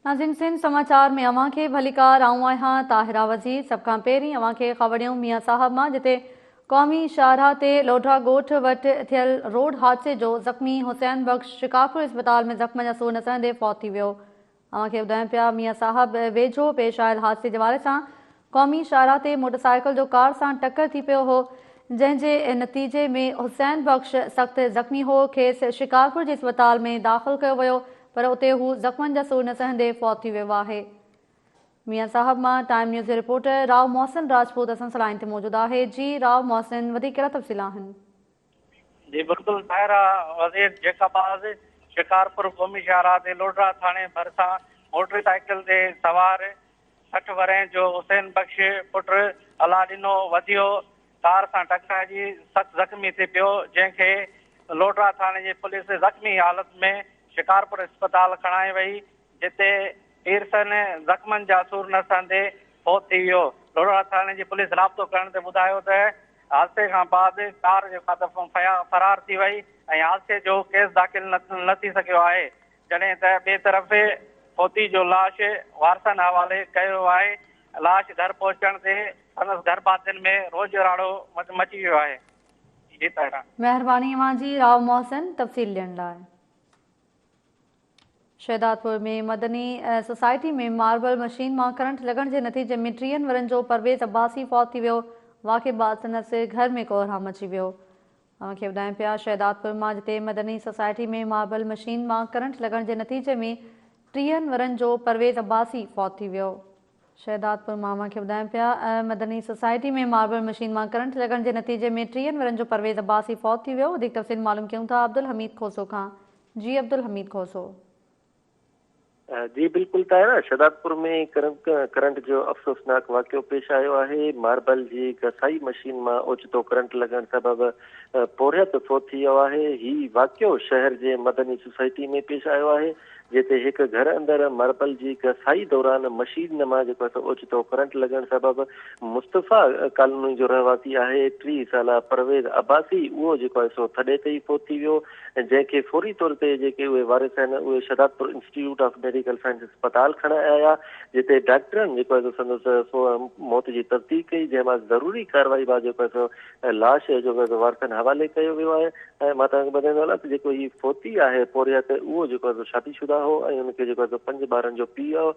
ناظم سنڌ سماءچار ۾ اوهان کي ڀليڪار آئون آهيان طاهره وزير سڀ کان پهرين اوهان کي خبڙيون ميان صاحب مان جتي قومي شاهراهه تي لوڍا ڳوٺ وٽ ٿيل روڊ حادثي جو زخمي حسين بخش شڪارپور اسپتال ۾ زخم جا سور نه سهندي فوت ٿي ويو اوهان کي ٻڌايون پيا ميان صاحب ويجهو پيش آيل حادثي جي حوالي سان قومي شاهراهه تي موٽرسائيڪل جو ڪار سان ٽڪر ٿي پيو هو جنهن جي نتيجي ۾ حسين بخش سخت زخمي هو کيس شڪارپور جي اسپتال ۾ داخل ڪيو ويو پر اتي هو زخمن جا سور نه سهندي فوت ٿي ويو آهي ميان صاحب مان ٽائيم نيوز جي رپورٽر راء محسن راجپوت اسان سان لائين تي موجود آهي جي راء محسن وڌيڪ ڪهڙا تفصيل آهن جي بلڪل ڀائرا وزير جيڪب باز شڪارپور قومي شاهراهه تي لوڍڙا ٿاڻي ڀرسان موٽر سائيڪل تي سوار سٺ ورهين جو حسين بخش پٽ الا ڏنو وڌيو ڪار سان ٽڪرائجي سخت زخمي ٿي پيو جنهن کي لوڍڙا ٿاڻي جي پوليس زخمي حالت ۾ شڪارپور اسپتال کڻائي وئي جتي پيرسن زخمن جا سور نه سهندي فوت ٿي ويو. ڍورڙا ٿاڻي جي پوليس رابطو ڪرڻ تي ٻڌايو ته حادثي کان بعد ڪار جي مالڪ فرار ٿي وئي ۽ حادثي جو ڪيس داخل نه ٿي سگهيو آهي جڏهن ته ٻئي طرف فوتي جو لاش وارثن حوالي ڪيو ويو آهي لاش گهر پهچڻ تي سندس گهر ڀاتين ۾ روڄ راڙو مچي ويو آهي. مهرباني اوهان جي راء محسن تفصيل ڏيڻ لاء. Shahdadpur ۾ Madni society ۾ marble machine مان ڪرنٽ لڳڻ جي نتيجي ۾ ٽيهن ورهين جو پرويز عباسي فوت ٿي ويو، واقعي بعد سندس گهر ۾ ڪوهرام مچي ويو. اوهان کي ٻڌايون پيا شهدادپور مان جتي مدني سوسائٽي ۾ ماربل مشين مان ڪرنٽ لڳڻ جي نتيجي ۾ ٽيهن ورهين جو پرويز عباسي فوت ٿي ويو. شهدادپور مان اوهان کي ٻڌايون پيا ته مدني سوسائٽي ۾ ماربل مشين مان ڪرنٽ لڳڻ جي نتيجي ۾ ٽيهن ورهين جو پرويز عباسي فوت ٿي ويو وڌيڪ تفصيل معلوم ڪيون ٿا عبدالحميد کوسو کان جي عبدالحميد کوسو. جي بلڪل طاهره شهدادپور ۾ ڪرنٽ جو افسوسناڪ واقعو پيش آيو آهي ماربل جي گسائي مشين مان اوچتو ڪرنٽ لڳڻ سبب پورهيت فوت ٿي ويو آهي هي واقعو شهر جي مدني سوسائٽي ۾ پيش آيو آهي جتي هڪ گهر اندر مربل جي گسائي دوران مشين مان جيڪو هڪ اوچتو ڪرنٽ لڳڻ سبب مصطفيٰ ڪالوني جو رهواسي آهي ٽيهه سالا پرويز عباسي اهو جيڪو آهي سو ٿڏي تي ئي فوت ٿي ويو جنهن کي فوري طور تي جيڪي اهي وارث آهن اهي Shahdadpur institute of medical science اسپتال کڻائي آيا جتي ڊاڪٽرن جيڪو آهي سو سندس موت جي تصديق ڪئي جنهن مان ضروري ڪارروائي بعد جيڪو آهي سو ۽ لاش جو ويزو وارثن حوالي ڪيو ويو آهي ۽ مان توهان کي ٻڌائيندو هلان ته جيڪو هي فوتي آهي پورهيت اهو جيڪو آهي سو شادي شده هو ۽ ان کي جيڪو آهي سو پنج ٻارن جو پيء هو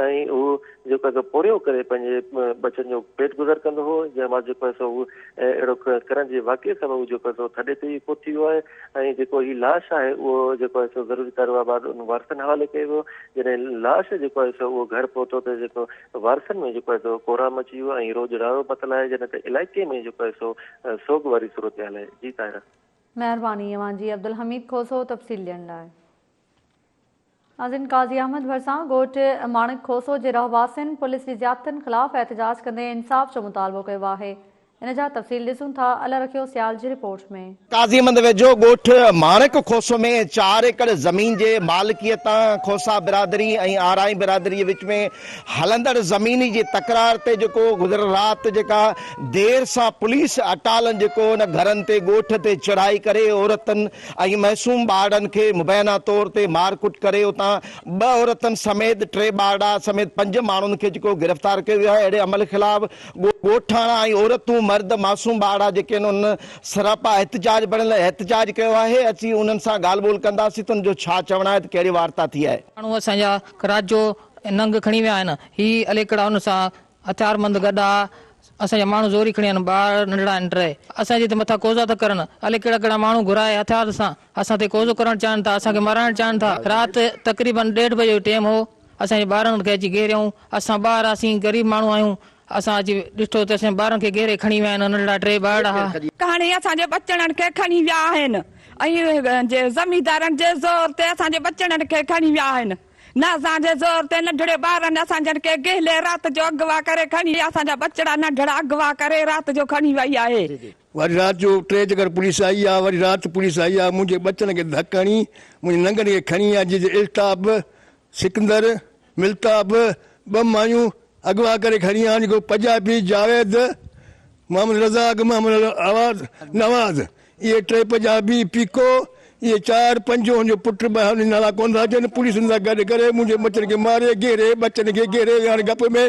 ۽ هو جيڪو آهي سو پورهيو ڪري پنهنجي ٻچن جو پيٽ گذر ڪندو هو جنهن بعد جيڪو آهي سو هو اهڙو ڪرڻ جي واقعي سبب هو جيڪو آهي سو ٿڏي تي پهتي ويو آهي ۽ جيڪو هي لاش آهي اهو جيڪو آهي سو ضروري ڪارروائي بعد ان وارثن حوالي ڪيو ويو جڏهن لاش جيڪو آهي سو اهو گهر پهتو ته جيڪو وارثن ۾ جيڪو آهي سو ڪورا مچي ويو ۽ روڄ راڙو متل آهي جڏهن ته علائقي ۾ جيڪو آهي سو سوڳ واري صورتحال آهي جي طاهره. مهرباني اوهان جي عبدالحميد کوسو تفصيل ڏيڻ لاء. ناظرين قاضي احمد ڀرسان ڳوٺ ماڻڪ کوسو جي رهواسين پوليس جي زيادتين خلاف احتجاج ڪندي انصاف جو مطالبو ڪيو آهي. ان جا تفصيل ڏسون ٿا الا رکيو سيال جي رپورٽ ۾. قاضي احمد ويجهو ڳوٺ ماڻڪ کوسو ۾ چار ايڪڙ زمين جي مالڪيء تان کوسا برادري ۽ آرائين برادريء وچ ۾ هلندڙ زميني جي تڪرار تي جيڪو گذريل رات جيڪا دير سان پوليس اٽالن جيڪو ان گهرن تي ڳوٺ تي چڙهائي ڪري عورتن ۽ معصوم ٻارڙن کي مبينا طور تي مارڪٽ ڪري اتان ٻه عورتن سميت ٽي ٻارڙا سميت پنج ماڻهن کي جيڪو گرفتار ڪيو ويو آهي اهڙي عمل خلاف ڳوٺاڻا ۽ عورتون، مرد، معصوم ٻارڙا جيڪي آهن انهن سراپا احتجاج بڻيل احتجاج ڪيو آهي، اسين انهن سان ڳالهه ٻولهه ڪنداسين ته انهن جو ڇا چوڻ آهي ته ڪهڙي وارتا ٿي آهي. ماڻهو اسان جا رات جو ننگ کڻي ويا آهن، هي عليڪڙا انهن سان هٿياربند گڏا اسان جا ماڻهو زوري کڻي ويا آهن، ٻار ننڍڙا آهن ٽي اسان جي تي مٿان قوضا ٿا ڪرن، عليڪڙا ڪهڙا ماڻهو گهرائي هٿيار سان اسان تي قوضو ڪرڻ چاهن ٿا، اسان کي مارائڻ چاهن ٿا، رات تقريبن ڏيڍ بجي جو ٽيم هو، اسان جي ٻارن کي اچي گهريائون اسان ٻار هئاسين غريب ماڻهو آهيون اسان اچي ڏٺو ته اسان جي ٻارن کي گهيري کڻي ويا آهن ننڍڙا ٽي ٻارڙا هئا. ڪهاڻي اسان جي ٻچڙن کي کڻي ويا آهن ۽ جي زميندارن جي زور تي اسان جي ٻچڙن کي کڻي ويا آهن نه اسان جي زور تي ننڍڙي ٻارن اسان جن کي گهلي رات جو اغوا ڪري کڻي اسان جا ٻچڙا ننڍڙا اغوا ڪري رات جو کڻي وئي آهي وري رات جو ٽي چڪر پوليس آئي آ وري رات پوليس آئي آ منهنجي ٻچن کي ڌڪ هڻي منهنجي ننگن کي کڻي آ جنهن جي الطاف سڪندر ملتاب ٻه مايون اغوا ڪري کڻي آن هڪڙو پجابي جاويد محمد رزاق محمد نواز اهي ٽي پجابي پيڪو اهي چار پنج هن جو پٽ ٻه هن نالا ڪونه ٿا اچن پوليس هن سان گڏ ڪري منهنجي مچن کي ماري گهيري ٻچن کي گهيري هاڻي گپ ۾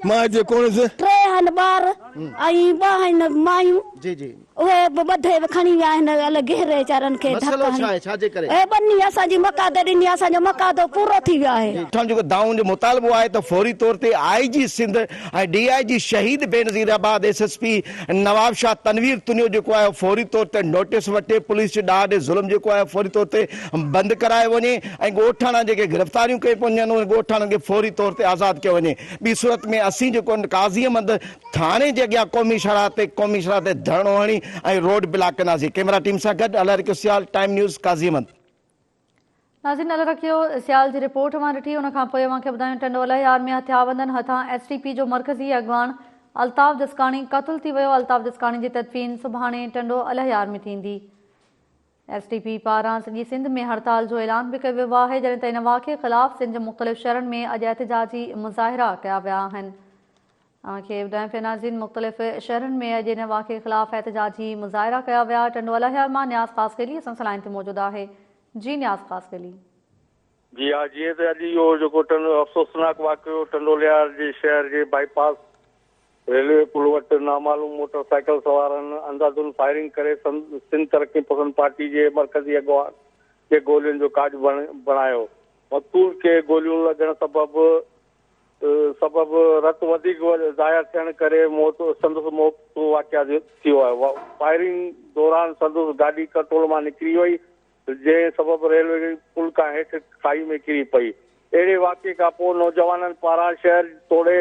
مان هتي ڪونس. ٽي هن ٻار ۽ ٻه هن مايون اهي به ٻڌي کڻي ويا آهن الي گهيري ويچارن کي ڌڪ هڻي اهي ٻنهي اسان جي مقاده ڏني اسان جو مقادو پورو ٿي ويو آهي. اسان جو دانهن جو مطالبو آهي ته فوري طور تي آء جي Sindh ۽ D I G Shaheed Benazirabad S S P Nawabshah Tanveer Tunio جيڪو آهي اهو فوري طور تي نوٽيس وٺي پوليس جي ڏاڍ ظلم جيڪو آهي فوري طور تي بند ڪرايو وڃي ۽ ڳوٺاڻا جيڪي گرفتاريون ڪيون پيون وڃن انهن ڳوٺاڻن کي فوري طور تي آزاد ڪيو وڃي ٻي صورت ۾ اسين جيڪو آهن قاضي احمد ٿاڻي جي اڳيان قومي شاهراهه تي قومي شاهراهه تي ڌرڻو هڻي ۽ روڊ بلاڪ ڪنداسين ڪيمرا ٽيم سان گڏ الهيار اقيو سيال ٽائيم نيوز قاضي احمد. ناظرين نظر رکيو سيال جي رپورٽ اوهان ڏٺي ان کانپوء اوهان کي ٻڌايون ٽنڊو الهيار ۾ هٿيابندن هٿان ايس ٽي پي جو مرڪزي اڳواڻ الطاف جسڪاڻي قتل ٿي ويو الطاف جسڪاڻي جي تدفين سڀاڻي ٽنڊو الهيار ۾ ٿيندي ايس ٽي پي پاران سڄي سنڌ ۾ هڙتال جو اعلان به ڪيو ويو آهي جڏهن ته ان واقعي خلاف سنڌ جي مختلف شهرن ۾ اڄ احتجاجي مظاهرا ڪيا ويا آهن اوهان کي ٻڌايان پيا ناظرين مختلف شهرن ۾ اڄ ان واقعي خلاف احتجاجي مظاهرا ڪيا ويا ٽنڊو الاهيار مان نياز خاصخيلي اسان سان لائين تي موجود آهي جي نياز خاصخيلي. جي ها جيئن ته اڄ اهو جيڪو ٽنڊو افسوسناڪ واقعو ٽنڊو الاهيار جي شهر جي بائي پاس ريلوي پل وٽ نامعلوم موٽر سائيڪل سوارن انداڌن فائرنگ ڪري سنڌ ترقي پسند پارٽي جي مرڪزي اڳواڻ کي گولين جو ڪاڄ بڻايو مقتول کي گوليون لڳڻ سبب سبب رت وڌيڪ ضايع ٿيڻ ڪري موت سندس موت جو واقع ٿيو آهي فائرنگ دوران سندس گاڏي ڪنٽرول مان نڪري وئي جنهن سبب ريلوي پل کان هيٺ کائي ۾ ڪري پئي اهڙي واقعي کان پوء نوجوانن پاران شهر توڙي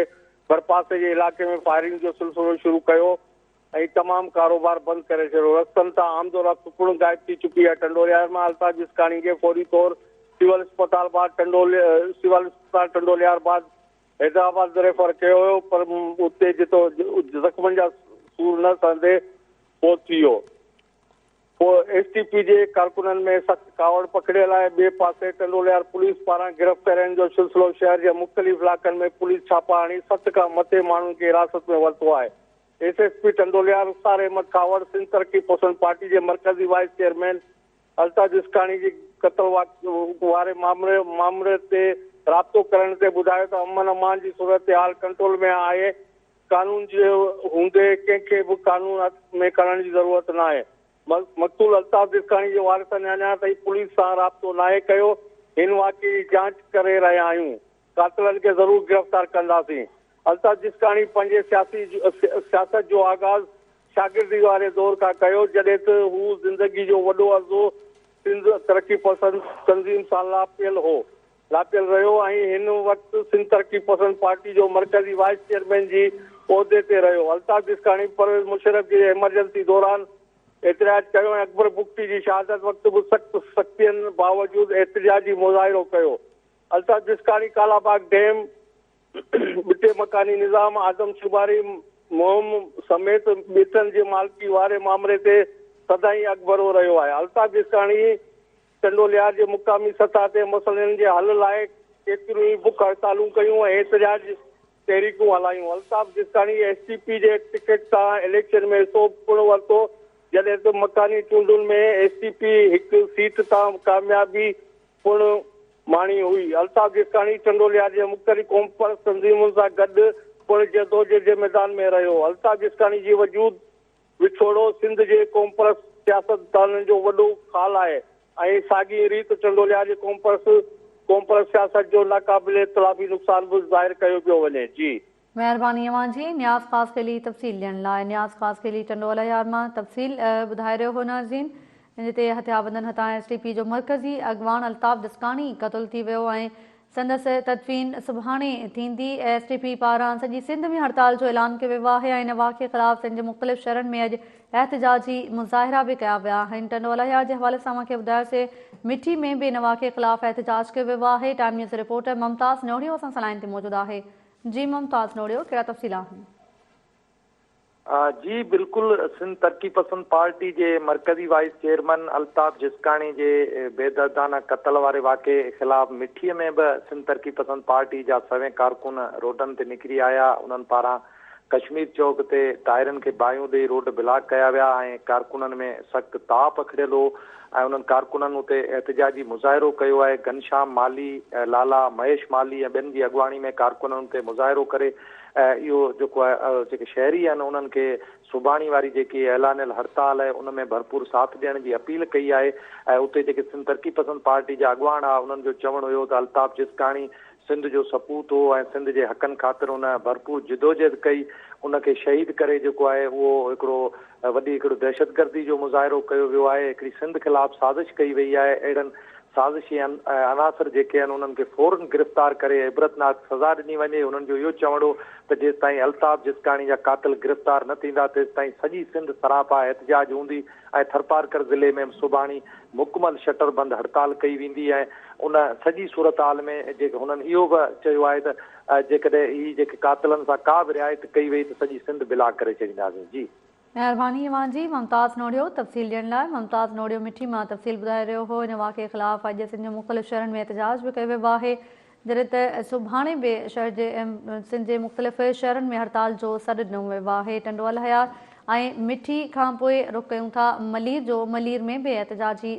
ڀرپاسي جي علائقي ۾ فائرنگ جو سلسلو شروع ڪيو ۽ تمام ڪاروبار بند ڪري ڇڏيو. رستن تان آمدورفت پڻ غائب ٿي چڪي آهي. ٽنڊوليار مان الطاف جسڪاڻي کي فوري طور سول اسپتال بعد ٽنڊول سول اسپتال ٽنڊوليار بعد حيدرآباد ريفر ڪيو ويو پر اتي جتو زخمن جا سور نه سهندي فوت ٿي ويو. پوء ايس ٽي پي جي ڪارڪنن ۾ سخت ڪاوڙ پکڙيل آهي. ٻئي پاسي ٽنڊوليار پوليس پاران گرفتارين جو سلسلو شهر جي مختلف علائقن ۾ پوليس ڇاپا هڻي ست کان مٿي ماڻهن کي حراست ۾ ورتو آهي. S S P ٽنڊوليا، Rukhsar Ahmed Khahawar, Sindh Taraqi پسند پارٽي جي مرڪزي وائيس چيئرمين الطاف جسڪاڻي جي قتل واري معاملي تي رابطو ڪرڻ تي ٻڌايو ته امن امان جي صورتحال ڪنٽرول ۾ آهي، قانون جي هوندي ڪنهن کي به قانون هٿ ۾ کڻڻ جي ضرورت ناهي. مقتول الطاف جسڪاڻي جي وارثن اڃا تائين پوليس سان رابطو ناهي ڪيو، هن واقعي جي جاچ ڪري رهيا آهيون. قاتلن کي ضرور گرفتار ڪنداسين. الطاف جسڪاڻي پنهنجي سياسي سياست جو آغاز شاگردي واري دور کان ڪيو جڏهن ته هو زندگي جو وڏو عرصو سنڌ ترقي پسند تنظيم سان لاپيل هو لاپيل رهيو ۽ هن وقت سنڌ ترقي پسند پارٽي جو مرڪزي وائيس چيئرمين جي عهدي تي رهيو الطاف جسڪاڻي پرويز مشرف جي ايمرجنسي دوران احتجاج ڪيو ۽ اڪبر بگٽي جي شهادت وقت به سخت سختين باوجود احتجاجي مظاهرو ڪيو الطاف جسڪاڻي ڪالاباغ ڊيم، ٻٽي مڪاني نظام آدم شماري مهم سميت ٻيٽن جي مالڪي واري مامري تي سدائين اڳڀرو رهيو آهي. الطاف جسڪاڻي چنڊوليار جي مقامي سطح تي مسئلن جي حل لاء ڪيتريون ئي بک هڙتالون ڪيون ۽ احتجاج تحريڪون هلايون. Altaf Jaskani S T P جي ٽڪيٽ تان اليڪشن ۾ حصو پڻ ورتو جڏهن ته مڪاني چونڊن ۾ ايس ٽي پي هڪ سيٽ تان ڪاميابي پڻ ماڻي هئي. الطاف جيساڻي چنڊوليا جي مختلف قومپرست تنظيمن سان گڏ پڻ جدوجهد جي ميدان ۾ رهيو. الطاف جيساڻي جي وجود وڇوڙو سنڌ جي قومپرست سياستدانن جو وڏو خال آهي ۽ ساڳئي ريت چنڊوليا جي قومپرست قومپرست سياست جو ناقابل اختلافي نقصان به ظاهر ڪيو پيو وڃي. جي. مهرباني اوهان جي نياز خاص خيلي تفصيل ڏيڻ لاء. نياز خاص خيلي ٽنڊو الهيار مان تفصيل ٻڌائي رهيو هو ناظرين جتي هٿيابندن هٿان ايس ٽي پي جو مرڪزي اڳواڻ الطاف دسڪاڻي قتل ٿي ويو ۽ سندس تدفين سڀاڻي ٿيندي ايس ٽي پي پاران سڄي سنڌ ۾ هڙتال جو اعلان ڪيو ويو آهي ۽ ان واقعي خلاف سنڌ جي مختلف شهرن ۾ اڄ احتجاجي مظاهرا به ڪيا ويا آهن ٽنڊو الهيار جي حوالي سان اوهان کي ٻڌايوسي مٺي ۾ به ان واقعي خلاف احتجاج ڪيو ويو آهي ٽائيم نيوز رپورٽر ممتاز نوڙيو اسان سان لائن تي موجود آهي جي ممتاز نوڙيو ڪهڙا تفصيل آهن. جي بلڪل سنڌ ترقي پسند پارٽي جي مرڪزي وائيس چيئرمن الطاف جسڪاڻي جي بيدردانه قتل واري واقعي خلاف مٺي ۾ به سنڌ ترقي پسند پارٽي جا سوين ڪارڪن روڊن تي نڪري آيا انهن پاران ڪشمير چوڪ تي ٽائرن کي باهيون ڏئي روڊ بلاڪ ڪيا ويا ۽ ڪارڪنن ۾ سخت تاء پکڙيل هو ۽ انهن ڪارڪنن اتي احتجاجي مظاهرو ڪيو آهي، گهنشام مالهي، لالا مهيش مالهي ۽ ٻين جي اڳواڻي ۾ ڪارڪنن اتي مظاهرو ڪري اهو جيڪو آهي جيڪي شهري آهن انهن کي سڀاڻي واري جيڪي اعلانيل هڙتال آهي ان ۾ ڀرپور ساٿ ڏيڻ جي اپيل ڪئي آهي ۽ اتي جيڪي سنڌ ترقي پسند پارٽي جا اڳواڻ هئا انهن جو چوڻ هيو ته الطاف جسڪاڻي سنڌ جو سپوت هو ۽ سنڌ جي حقن خاطر ان ڀرپور جدوجهد ڪئي، ان کي شهيد ڪري جيڪو آهي اهو هڪڙو وڏي هڪڙو دهشتگردي جو مظاهرو ڪيو ويو آهي، هڪڙي سنڌ خلاف سازش ڪئي وئي آهي، اهڙن سازشي عناصر جيڪي آهن انهن کي فورن گرفتار ڪري عبرتناڪ سزا ڏني وڃي، انهن جو اهو چوڻ هو ته جيستائين الطاف جسڪاڻي جا قاتل گرفتار نه ٿيندا تيستائين سڄي سنڌ سراپا احتجاج هوندي، ۽ ٿرپارڪر ضلعي ۾ به سڀاڻي مڪمل شٽر بند هڙتال ڪئي ويندي ۽ ان سڄي صورتحال ۾ جيڪي هنن اهو به چيو آهي ته جيڪڏهن هي جيڪي قاتلن سان ڪا به رعايت ڪئي وئي ته سڄي سنڌ بلاڪ ڪري ڇڏينداسين جي. مهرباني اوهان جي ممتاز نوڙيو تفصيل ڏيڻ لاء ممتاز نوڙيو مٺي مان تفصيل ٻڌائي رهيو هو ان واقعي خلاف اڄ سنڌ جي مختلف شهرن ۾ احتجاج به ڪيو ويو آهي جڏهن ته سڀاڻي به شهر جي سنڌ جي مختلف شهرن ۾ هڙتال جو سڏ ڏنو ويو آهي، ٽنڊو الهيار ۽ مٺي کان پوء رخ ڪيون ٿا ملير جو، ملير ۾ به احتجاجي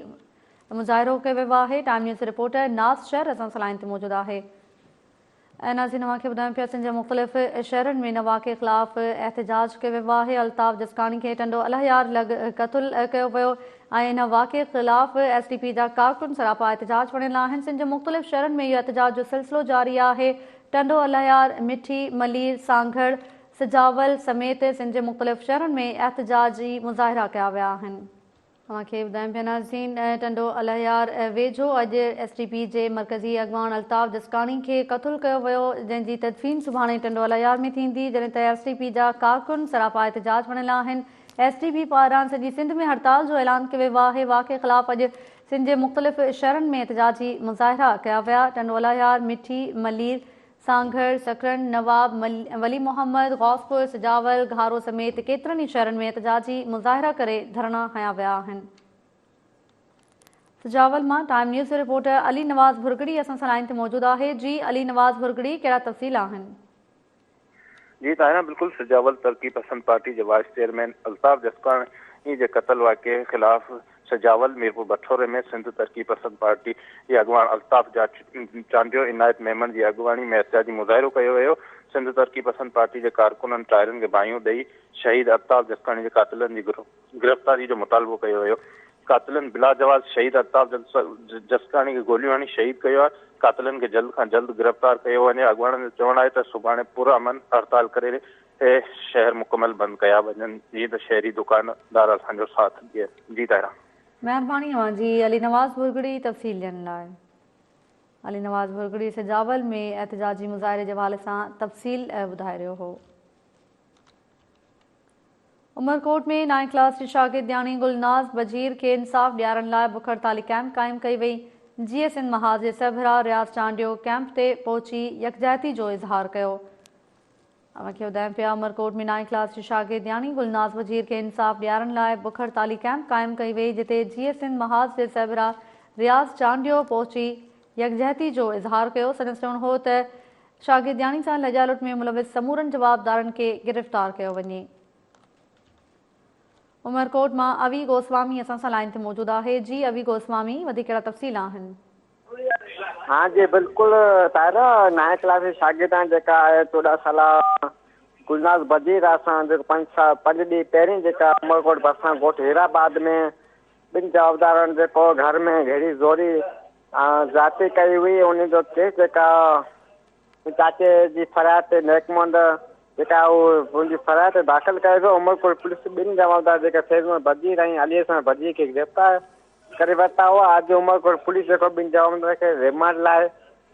مظاهرو ڪيو ويو آهي، ٽائيم نيوز جي رپورٽر ناز شر اسان سان لائين تي موجود آهي. نازين اوهان کي ٻڌايون پيا سنڌ جي مختلف شهرن ۾ ان واقعي خلاف احتجاج ڪيو ويو آهي، الطاف جسڪاڻي کي ٽنڊو الهيار لڳ قتل ڪيو ويو، ۽ ان واقعي خلاف ايس ڊي پي جا ڪارڪن سراپا احتجاج وڻين لا آهن سنڌ جي مختلف شھرن ۾ اھو احتجاج جو سلسلو جاري آھي ٽنڊو الهيار مٺي ملير سانگھڙ سجاول سميت سنڌ جي مختلف شھرن ۾ احتجاجي مظاهرا ڪيا ويا آهن. اوهان کي ٻڌايون پيا ناظرين ٽنڊو الهيار ويجھو اڄ ايس ڊي پي جي مرڪزي اڳواڻ الطاف جسڪاڻي کي قتل ڪيو ويو جنهن جي تدفين سڀاڻي ٽنڊو الهيار ۾ ٿيندي جڏهن ته ايس ڊي پي جا ڪارڪن سراپا احتجاج وڻين لا آهن ايس ٽي بي پاران سڄي سنڌ ۾ هڙتال جو اعلان ڪيو ويو آهي واقعي خلاف اڄ سنڌ جي مختلف شھرن ۾ احتجاجي مظاهرا ڪيا ويا ٽنڊو الاهيار، مٺي، ملير، سانگھڙ، سڪرنڊ، نواب ولي محمد، غوثپور، سجاول، گھارو سميت ڪيترن ئي شھرن ۾ احتجاجي مظاهرا ڪري ڌرڻا هنيا ويا آهن. سجاول مان ٽائيم نيوز جو رپورٽر علي نواز ڀرڳڙي اسان سان لائين تي موجود آهي جي علي نواز ڀرڳڙي ڪهڙا تفصيل آهن. جي طاهران بلڪل سجاول ترقي پسند پارٽي جي وائيس چيئرمين الطاف جسڪاڻي جي قتل واقعي خلاف سجاول ميرپور بٺوري ۾ سنڌ ترقي پسند پارٽي جي اڳواڻ الطاف چانڊيو عنايت ميمڻ جي اڳواڻي ۾ احتجاجي مظاهرو ڪيو ويو سنڌ ترقي پسند پارٽي جي ڪارڪنن ٽائرن کي باهيون ڏئي شهيد الطاف جسڪاڻي جي قاتلن جي گروهه گرفتاري جو مطالبو ڪيو ويو، قاتلن بلاجواز شهيد الطاف جسڪاڻي کي گوليون هڻي شهيد ڪيو آهي، قاتلن کي جلد کان جلد گرفتار ڪيو وڃي، اڳواڻن جو چوڻ آهي ته سڀاڻي پر امن هڙتال ڪري شهر مڪمل بند ڪيا وڃن جيئن ته شهري دڪاندار اسان جو ساٿ ڏين. جي طاهرا. مهرباني اوهان جي علي نواز ڀرڳڙي تفصيل ڏيڻ لاء. علي نواز ڀرڳڙي سجاول ۾ احتجاجي مظاهري جي حوالي سان تفصيل ٻڌائي رهيو هو. عمرڪوٽ ۾ نائين ڪلاس جي شاگرد نياڻي گلناز بجير کي انصاف ڏيارڻ لاء بک هڙتالي ڪئمپ قائم ڪئي وئي، جي اي سنڌ محاذ جي سربراهه رياض چانڊيو ڪئمپ تي پهچي يڪجهتي جو اظهار ڪيو. اوهان کي ٻڌايون پيا عمرڪوٽ ۾ نائين ڪلاس جي شاگرد نياڻي گلناز بجير کي انصاف ڏيارڻ لاء بک هڙتالي ڪئمپ قائم ڪئي وئي جتي جي اي سنڌ محاذ جي سربراهه رياض چانڊيو پهچي يڪجهتي جو اظهار ڪيو سندس چوڻ هو ته شاگردياڻي سان لڄا لٽ ۾ ملوث سمورن جوابدارن کي گرفتار ڪيو وڃي. عمرڪوٽ مان اوي گوسوامي اسان سان لائين تي موجود آهي جي اوي گوسوامي وڌيڪ ڪهڙا تفصيل آهن. ها جي بلڪل طاهره نائين ڪلاس جي شاگردياڻي جيڪا آهي چوڏهن سالا گلناز بدير اسان جيڪو پنج سال پنج ڏينهن پهرين جيڪا عمرڪوٽ ڀرسان ڳوٺ هيرا آباد ۾ ٻن جوابدارن جيڪو گهر ۾ گهڙي زوري ذاتي ڪئي هئي ان جو ڪيس جيڪا چاچي جي فرياد تي نيڪ مند جيڪا هو منهنجي فرياد تي داخل ڪيو ويو عمرپور پوليس ٻن جمالدار جيڪا فيض محمد بجير ۽ علي حسن بجير کي گرفتار ڪري ورتا هئا اڄ عمرپور پوليس جيڪو ٻن جمالدار کي ريمانڊ لاء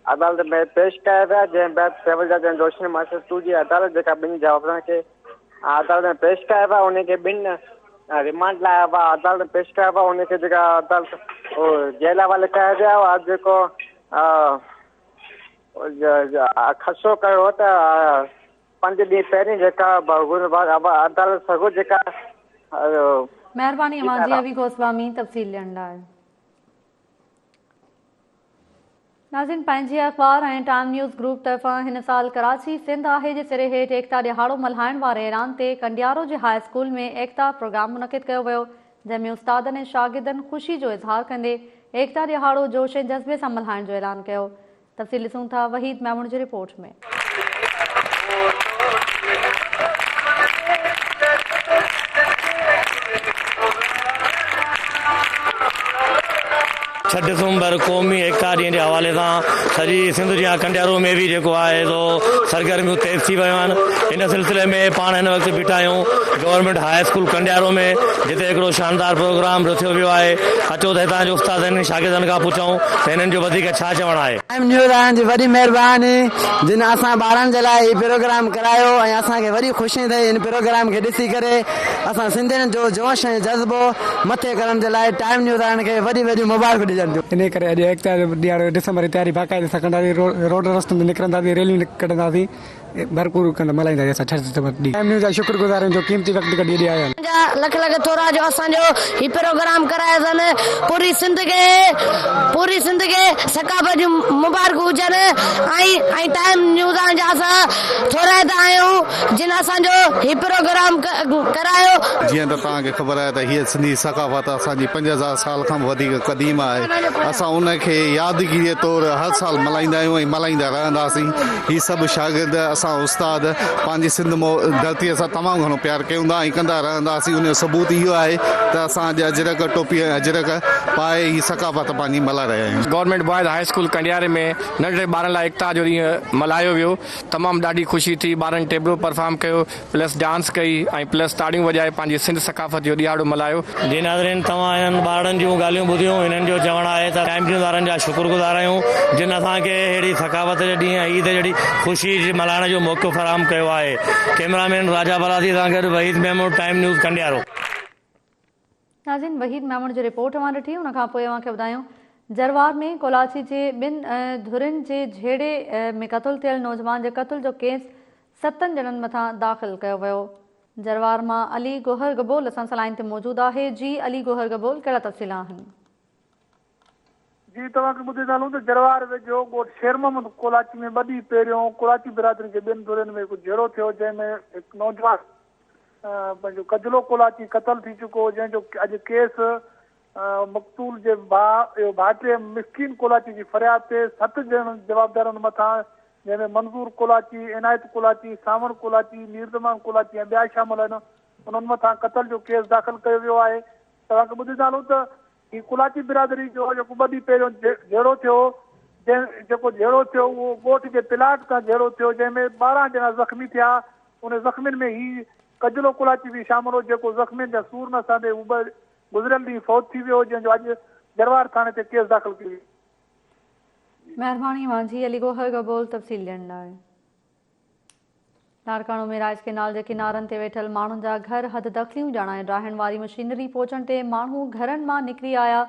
عدالت ۾ پيش ڪيا ويا جنهن بعد سول جج ۽ جوشن ماستر ٽو جي عدالت جيڪا ٻن جمالدارن کي عدالت ۾ پيش ڪيا ويا ان کي ٻن ريمانڊ لاء عدالت ۾ پيش ڪيا ويا ان کي جيڪا عدالت جيل حوالي ڪيا ويا اڄ جيڪو خدشو ڪيو ته پنج ڏينهن پهرين جيڪا عدالت سگو جيڪا مهرباني اوهان جي ابي گوسوامي تفصيل ڏيڻ لاء ناظرين پنهنجي اخبار ۽ ٽائيم نيوز گروپ طرفان هن سال ڪراچي سنڌ آهي جي سري هيٺ ايڪتا ڏهاڙو ملهائڻ واري اعلان تي ڪنڊيارو جي هاء اسڪول ۾ ايڪتا پروگرام منعقد ڪيو ويو جنهن ۾ استادن ۽ شاگردن خوشي جو اظهار ڪندي ايڪتا ڏهاڙو جوش ۽ جذبي سان ملهائڻ جو اعلان ڪيو تفصيل ڏسون ٿا وحيد ميمڻ جي رپورٽ ۾. ڇهه ڊسمبر قومي ايڪتا ڏينهن جي حوالي سان سڄي سنڌ جيان ڪنڊيارو ۾ به جيڪو آهي سو سرگرميون تيز ٿي ويون آهن ان سلسلي ۾ پاڻ هن وقت بيٺا آهيون گورنمينٽ هاء اسڪول ڪنڊيارو ۾ جتي هڪڙو شاندار پروگرام رٿيو ويو آهي اچو ته هتان جي استادن ۽ شاگردن کان پڇون ته هنن جو وڌيڪ ڇا چوڻ آهي. ٽائيم نيوز وارن جي وڏي مهرباني جن اسان ٻارن جي لاء هي پروگرام ڪرايو ۽ اسان کي وڏي خوشي ٿئي هن پروگرام کي ڏسي ڪري اسان سنڌين جو جوش ۽ جذبو مٿي ڪرڻ جي لاء ٽائيم نيوز وارن کي وڏيون وڏيون مبارڪون ڏجن ٿيون. انهي ڪري اڄ ايڪتا جو ڏينهن آهي ڊسمبر جي تياري باقاعدي سان ڪنداسين روڊ رستن تي نڪرنداسين ريليون ڪڍنداسين. ڀرپور ڪندا ملهائيندا جنهن سان ڇهه ستمبر ڏينهن پرائم نيوز جا شڪر گذار آهيون جو قيمتي وقت ڪڍي ايڏي آيا آهن. اوهان جا لک لک ٿورا جو اسان جو هي پروگرام ڪرايو ٿن پوري سنڌ کي پوري سنڌ کي ثقافت جون مبارڪون هجن ۽ ۽ ٽائيم نيوز آهن جا اسان ٿورائتا آهيون جن اسان جو هي پروگرام ڪرايو. جيئن ته توهان کي خبر آهي ته هيء سنڌي ثقافت اسان جي پنج هزار سال کان به وڌيڪ قديم آهي اسان ان کي يادگيري طور هر سال ملهائيندا آهيون ۽ ملهائيندا رهنداسين. هي سڀ شاگرد اسان استاد پنهنجي سنڌ مئو ڌرتيء سان تمام گهڻو پيار ڪيون ٿا ۽ ڪندا رهنداسين ان جو ثبوت اهو آهي ته اسان اڄ اجرڪ ٽوپي ۽ اجرڪ پائي هي ثقافت پنهنجي ملهائي رهيا آهيون. گورنمينٽ بوائز هاء اسڪول ڪنڊياري ۾ ننڍڙي ٻارن لاء ايڪتا جو ڏينهن ملهايو ويو تمام ڏاڍي خوشي ٿي ٻارن ٽيبلو پرفارم ڪيو. پلس ڊانس ڪئي ۽ پلس تاڙيون وڄائي پنهنجي سنڌ ثقافت جو ڏهاڙو ملهايو. جي ناظرين توهان هنن ٻارڙن جون ڳالهيون ٻڌيون هنن جو چوڻ آهي ته ٽائيم ٽيون وارن جا شڪر گذار آهيون جن اسان کي اهڙي ثقافت جي ڏينهن ۽ عيد جهڙي خوشي جي ملهائڻ جو موقعو فراهم ڪيو آهي ڪيمرا مين راجا بلادي سان گڏ وحيد محمود ٽائيم نيوز کنڊيارو. ناظرين وحيد ميمڻ جي رپورٽ اوهان ڏٺي ان کان پوء اوهان کي ٻڌايون جروار ۾ ڪولاچي جي ٻن ڌرين جي جهيڙي ۾ قتل ٿيل نوجوان جي قتل جو ڪيس ستن ڄڻن مٿان داخل ڪيو ويو جروار مان علي گوهر گبول اسان سان لائين تي موجود آهي جي علي گوهر گبول ڪهڙا تفصيل آهن. جيئن توهان کي ٻڌي ٿا هلون ته جروار ويجهو ڳوٺ شير محمد ڪولاچي ۾ ٻه ڏينهن پهريون ڪولاچي برادري جي ٻن ڌرين ۾ هڪ جهيڙو ٿيو جنهن ۾ هڪ نوجوان پنهنجو ڪجلو ڪولاچي قتل ٿي چڪو جنهن جو اڄ ڪيس مقتول جي ڀاء ڀاٽي مسڪين ڪولاچي جي فرياد تي ست ڄڻ جوابدارن مٿان جنهن ۾ منظور ڪولاچي عنايت ڪولاچي ساوڻ ڪولاچي ميرزمان ڪولاچي ۽ ٻيا شامل آهن انهن مٿان قتل جو ڪيس داخل ڪيو ويو آهي توهان کي ٻڌي ٿا هلون ته هي ڪولاچي برادري جو جيڪو ٻه ڏينهن پهريون جهيڙو ٿيو جنهن جيڪو جهيڙو ٿيو اهو ڳوٺ جي پلاٽ تان جهيڙو ٿيو جنهن ۾ ٻارهن ڄڻا زخمي ٿيا ان زخمين ۾ هي ڪجلو ڪولاچي به شامل هو جيڪو زخمين جا سور نه سهندي هو به گذريل ڏينهن فوت ٿي ويو جنهن جو اڄ جروار ٿاڻي تي ڪيس داخل ڪيو ويو. مهرباني مانجهي علي گوهر گبول تفصيل ڏيڻ لاء. لاڙڪاڻو ۾ رائج ڪينال جي ڪنارن تي ويٺل ماڻهن جا گهر حد دخليون ڄاڻائي ڊاهڻ واري مشينري پهچڻ تي ماڻهو گهرن مان نڪري آيا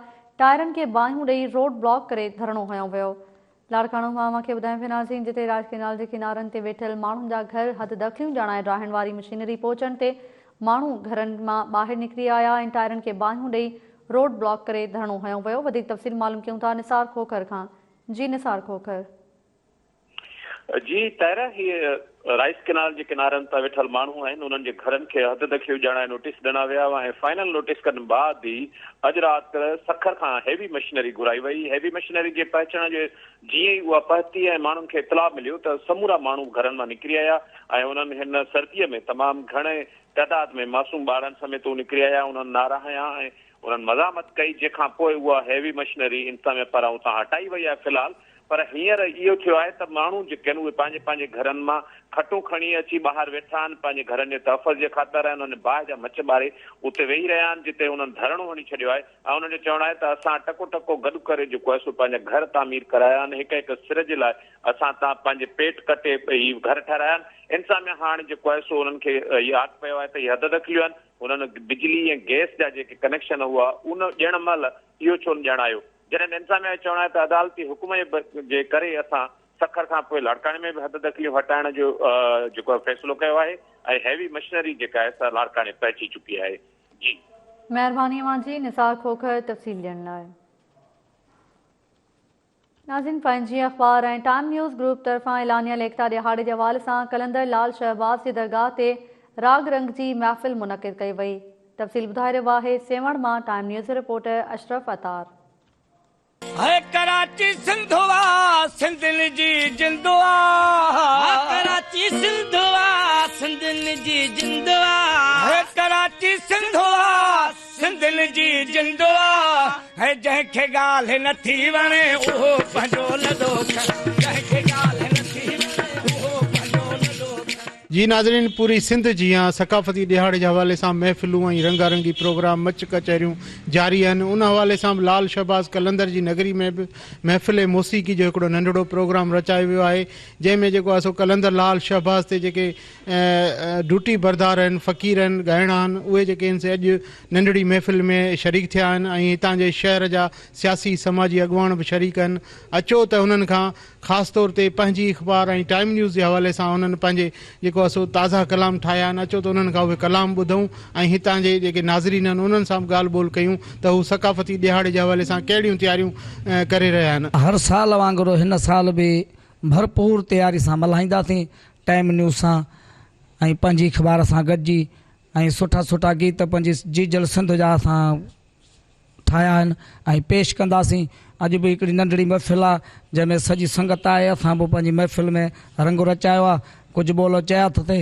ٽائرن کي باهيون ڏئي روڊ بلاڪ ڪري ڌرڻو هنيو ويو لاڙڪاڻو مان اوهان کي ٻڌايون پيا ناظرين جتي رائج ڪينال جي ڪنارن تي ويٺل ماڻهن جا گهر حد دخليون ڄاڻائي ڊاهڻ واري مشينري پهچڻ تي ماڻهو گهرن مان ٻاهر نڪري آيا ۽ ٽائرن کي باهيون ڏئي روڊ بلاڪ ڪري ڌرڻو هنيو ويو وڌيڪ تفصيل معلوم ڪيون ٿا نثار کوکر کان جي نثار کوکر. جي طاهره هي رائيس ڪينال جي ڪنارن تان ويٺل ماڻهو آهن انهن جي گهرن کي حد دخيو ڄاڻائي نوٽيس ڏنا ويا هئا ۽ فائنل نوٽيس کن بعد ئي اڄ رات سکر کان هيوي مشنري گهرائي وئي هيوي مشنري جي پهچڻ جي جيئن ئي اها پهتي ۽ ماڻهن کي اطلاع مليو ته سمورا ماڻهو گهرن مان نڪري آيا ۽ انهن هن سردي ۾ تمام گهڻي تعداد ۾ معصوم ٻارڙن سميت نڪري آيا انهن نارا هنيا ۽ انهن مزاحمت ڪئي جنهن کان پوء اها هيوي مشنري انتظاميه پاران اتان هٽائي وئي آهي في الحال پر هينئر اهو ٿيو آهي ته ماڻهو جيڪي آهن اهي پنهنجي پنهنجي گهرن مان کٽون کڻي اچي ٻاهر ويٺا آهن پنهنجي گهرن جي تحفظ جي خاطر ۽ انهن باهه جا مچ ٻاري اتي ويهي رهيا آهن جتي انهن ڌرڻو هڻي ڇڏيو آهي ۽ انهن جو چوڻ آهي ته اسان ٽڪو ٽڪو گڏ ڪري جيڪو آهي سو پنهنجا گهر تعمير ڪرايا آهن هڪ هڪ سر جي لاء اسان تان پنهنجي پيٽ ڪٽي هي گهر ٺهرايا آهن انتظاميه هاڻ جيڪو آهي سو انهن کي اهي آت پيو آهي ته اهي حد دخليون آهن هنن بجلي ۽ گئس جا جيڪي ڪنيڪشن هئا، ان ڏيڻ مهل اهو ڇو نه ڄاڻايو؟ جڏهن ته انتظاميا جو چوڻ آهي ته عدالتي حڪم جي ڪري اسان سکر کان پوء لاڙڪاڻي ۾ به حد دخليون هٽائڻ جو جيڪو آهي فيصلو ڪيو آهي ۽ هيوي مشنري جيڪا آهي سا لاڙڪاڻي پهچي چڪي آهي. جي. مهرباني اوهان جي نثار کوکر تفصيل ڏيڻ لاء. ناظرين پنهنجي اخبار ۽ ٽائيم نيوز گروپ طرفان اعلانيه ليکتا ڏهاڙي جي حوالي سان قلندر لال شهباز جي درگاهه تي راڳ رنگ جي محفل منعقد ڪئي وئي تفصيل ٻڌائي رهيو آهي سيوهڻ مان ٽائيم نيوز جو رپورٽر اشرف عطار. هي ڪراچي سنڌو آ سنڌين جي جندو آ هي ڪراچي سنڌو آ سنڌين جي جندو آ هي ڪراچي سنڌو آ. سنڌين جي جندو آ هي جنهن کي ڳالهه نه ٿي وڻي اهو پنهنجو لڏو کڻي جنهن کي ڳالهه نه ٿي وڻي اهو پنهنجو لڏو کڻي. جي ناظرين پوري سنڌ جيان ثقافتي ڏهاڙي جي حوالي سان محفلون ۽ رنگا رنگي پروگرام مچ ڪچهريون جاري آهن ان حوالي سان به لعل شهباز قلندر جي نگري ۾ به محفل موسيقي جو هڪڙو ننڍڙو پروگرام رچايو ويو آهي جنهن ۾ جيڪو آهي سو قلندر لعل شهباز تي جيڪي ڊوٽي بردار ھن فقيرن، ڳائڻاھن، اھي جيڪي ھن سي اڄ ننڍڙي محفل ۾ شريڪ ٿيا آھن ۽ ھتان جي شھر جا سياسي سماجي اڳواڻ به شريڪ ھن اچو ته ھنن کان خاص طور تي پنھنجي اخبار ۽ ٽائيم نيوز جي حوالي سان ھنن پنھنجي جيڪو اسو تازا ڪلام ٺاھيا آھن اچو ته انھن کان اھي ڪلام ٻڌون ۽ ھتان جي جيڪي ناظرين ھن انھن سان به ڳالھ ٻولھ ڪيون ته ھو ثقافتي ڏيھاڙي جي حوالي سان ڪھڙيون تياريون ڪري رھيا ھن. ھر سال وانگر ھن سال به ڀرپور تياري سان ملهائينداسين، ٽائيم نيوز سان ۽ پنهنجي اخبار سان گڏجي ۽ سٺا سٺا گيت پنهنجي جيجل سنڌ جا اسان ٺاهيا آهن ۽ پيش ڪنداسين، اڄ به هڪڙي ننڍڙي محفل آ جنهن ۾ سڄي سنگت آهي، اسان به پنهنجي محفل ۾ رنگ رچايو آ، ڪجهه ٻولا چيا اٿسين،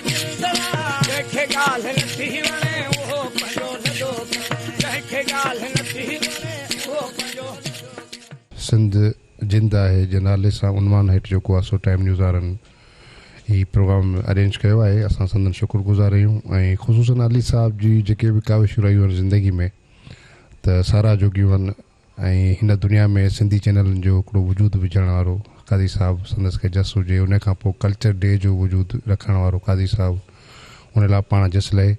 جنهن کي ڳالهه نه ٿي وڻي اهو پنهنجو ندو ڪري جنهن کي ڳالهه نه ٿي وڻي اهو پنهنجو ندو ڪري. سنڌ زنده آهي جي نالي سان عنوان هيٺ جو ڪو آسو ٽائيم نيوز وارن هي پروگرام ارينج ڪيو آهي اسان سندن شڪر گذار آهيون ۽ خصوصن علي صاحب جي جيڪي به ڪاوشون رهيون آهن زندگي ۾ ته ساراهه جوڳيون آهن ۽ هن دنيا ۾ سنڌي چينلن جو هڪڙو وجود وجهڻ وارو قاضي صاحب سندس کي جس هجي انهي کان پوء ڪلچر ڊي جو وجود رکڻ وارو قاضي صاحب انهي لاء پاڻ جس لهي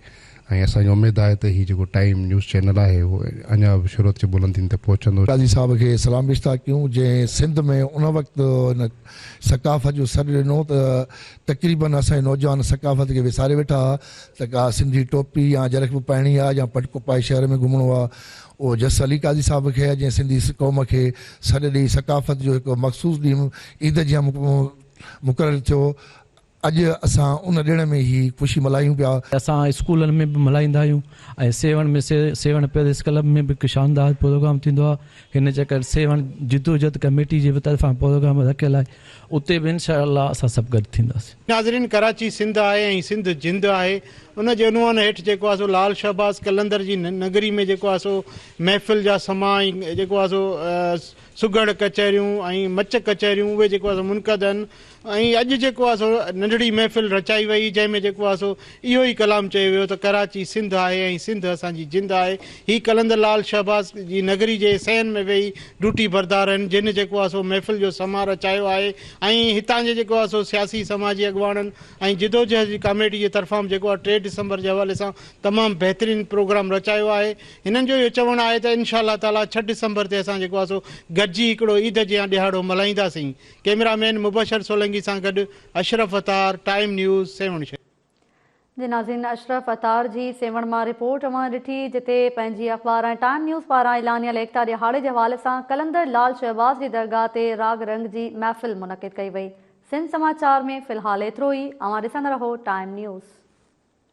۽ اسان کي اميد آهي ته هي جيڪو ٽائيم نيوز چينل آهي اهو اڃا به شهرت جي بلندين تي پهچندو. قاضي صاحب کي سلام پيشتا ڪيون جنهن سنڌ ۾ ان وقت ان ثقافت جو سڏ ڏنو ته تقريبن اسان جي نوجوان ثقافت کي وساري ويٺا ته ڪا سنڌي ٽوپي يا اجرڪ به پائڻي آ يا پٽڪو پائي شهر ۾ گهمڻو آ اوجس علي قاضي صاحب کي جنهن سنڌي قوم کي سڏ ڏئي ثقافت جو هڪ مخصوص ڏينهن عيد جيان مقرر ٿيو اڄ اسان ان ڏيڻ ۾ هي خوشي ملهايون پيا. اسان اسڪولن ۾ به ملهائيندا آهيون ۽ سيوهڻ ۾ سيوهڻ پيرس ڪلب ۾ به هڪ شاندار پروگرام ٿيندو آهي هن چڪر سيوهڻ جدوجھد ڪميٽي جي به طرفان پروگرام رکيل آهي اتي به انشاء الله اسان سڀ گڏ ٿينداسين. ناظرين ڪراچي سنڌ آهي ۽ سنڌ جند آهي ان جي عنوان هيٺ جيڪو آهي سو لعل شهباز قلندر جي نگري ۾ جيڪو آهي سو محفل جا سما ۽ جيڪو آهي سو سگهڙ ڪچهريون ۽ مچ ڪچهريون اهي جيڪو آهي سو منعقد هن ۽ اڄ جيڪو آهي سو ننڍڙي محفل رچائي وئي جنهن ۾ جيڪو آهي سو اهو ئي ڪلام چيو ويو ته ڪراچي سنڌ آهي ۽ سنڌ اسان جي جند آهي. هي قلندر لعل شهباز جي نگري جي سين ۾ ويهي ڊوٽي بردار هن جن جيڪو آهي سو محفل جو سماء رچايو آهي ۽ هتان جي جيڪو آهي سو سياسي سماجي اڳواڻن ۽ جدوجهد جي ڪاميٽي جي طرفان به جيڪو آهي ٽي ڊسمبر جي حوالي سان تمام بهترين پروگرام رچايو آهي. هنن جو اهو چوڻ آهي ته انشاء الله تعاليٰ ڇهه ڊسمبر تي اسان جيڪو آهي سو گڏجي هڪڙو عيد جيان ڏهاڙو ملهائينداسين. ڪئميرا مين مبشر سولنگي سان گڏ اشرف عطار، ٽائيم نيوز، سيوهڻ شهر. جي ناظرين اشرف عطار جي سيوهڻ مان رپورٽ اوهان ڏٺي جتي پنهنجي اخبار ۽ ٽائيم نيوز پاران اعلانيه ليکتا ڏهاڙي جي حوالي سان قلندر لال شهباز جي درگاهه تي راڳ رنگ جي محفل منعقد ڪئي وئي سنڌ سماء چار ۾ في الحال ايترو ئي اوهان ڏسندا رهو ٽائيم نيوز.